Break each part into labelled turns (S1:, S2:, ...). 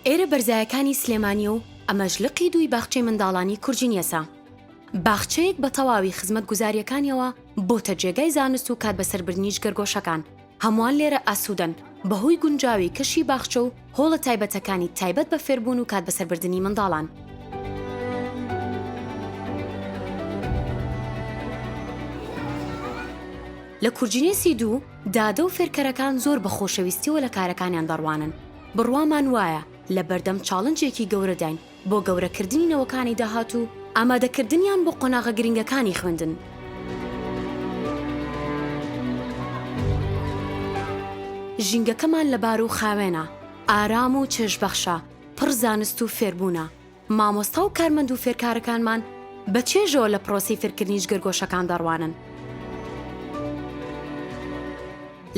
S1: ئێرە بەرزایەکانی سلێمانیە و ئەمەش لقی دووی باخچەی منداڵانی کورجینیەسا. باخچەیەک بە تەواوی خزمەت گوزاریەکانیەوە بۆتە جێگای زانست و کات بەسەربردنی جگەرگۆشەکان، هەمووان لێرە ئاسوودەن بەهۆی گونجاوی کەشی باخچە و هۆڵە تایبەتەکانی تایبەت بە فێربوون و کات بەسەربردنی منداڵان. لە کورجینێسی دوو، دادە و فێرکەرەکان زۆر بە خۆشەویستیەوە لە کارەکانیان دەڕوانن. بڕوامان وایە لە بەردەم چاڵنجێکی گەورەداین بۆ گەورەکردنی نەوەکانی داهاتوو و ئامادەکردنیان بۆ قۆناغە گرنگەکانی خوێندن. ژینگەکەمان لەبار و خاوێنە، ئارام و چێژبەخشە، پڕ زانست و فێربوونە. مامۆستا و کارمەند و فێرکارەکانمان بە چێژەوە لە پرۆسەی فێرکردنی جگەرگۆشەکان دەڕوانن.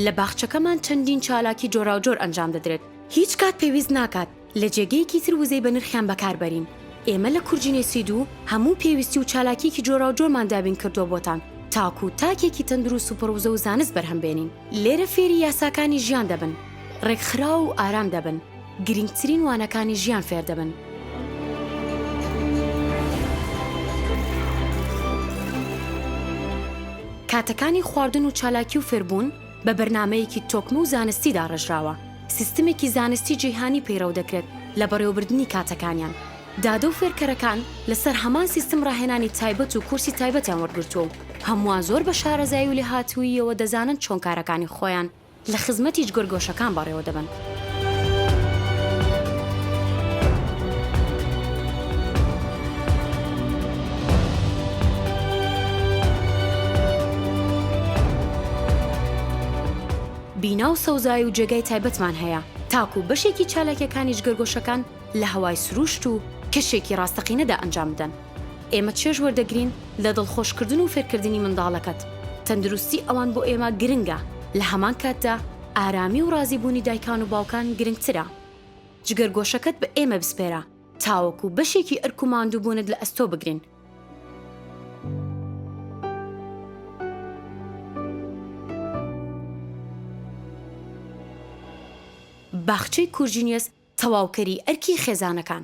S1: لە باخچەکەمان چەندین چالاکی جۆراوجۆر ئەنجام دەدرێت، هیچ کات پێویست ناکات، لە جێگەیەکی تر وزەی بەنرخیان بەکار بەرین. ئێمە لە کورجینێسی دوو هەموو پێویستی و چالاکیەکی جۆراوجۆرمان دابین کردووە بۆتان تاکوو تاکێکی تەندروست و پڕ وزە و زانست بەرهەم بێنین. لێرە فێری یاساکانی ژیان دەبن، ڕێکخراو و ئارام دەبن، گرینگترین وانەکانی ژیان فێر دەبن. کاتەکانی خواردن و چالاکی و فێربوون بە بەرنامەیەکی تۆکمە و زانستی داڕێژراوە، سیستمێکی زانستی جیهانی پەیڕەو دەکرێت لە بەڕێوەبردنی کاتەکانیان. دادە و فێرکەرەکان لەسەر هەمان سیستم ڕاهێنانی تایبەت و کورسی تایبەتیان وەرگرتووە و هەمووان زۆر بە شارەزایی و لێهاتووییەوە دەزانن چۆن کارەکانی خۆیان لە خزمەتی جگەرگۆشەکان بەڕێوە دەبەن. بینا و سەوزای و جێگای تایبەتمان هەیە، تاکوو بەشێکی چالاکییەکانی جگەرگۆشەکان لە هەوای سرووشت و کەشێکی ڕاستەقینەدا ئەنجام بدەن. ئێمە چێژ وەردەگرین لە دڵخۆشکردن و فێرکردنی منداڵەکەت، تەندروستی ئەوان بۆ ئێمە گرنگە، لە هەمان کاتدا ئارامی و ڕازیبوونی دایکان و باوکان گرنگترە. جگەرگۆشەکەت بە ئێمە بسپێرە تاوەکو بەشێکی ئەرک و ماندووبوونت لە ئەستۆ بگرین. باخچەی کورجینیەس تەواوکەری ئەرکی خێزانەکان.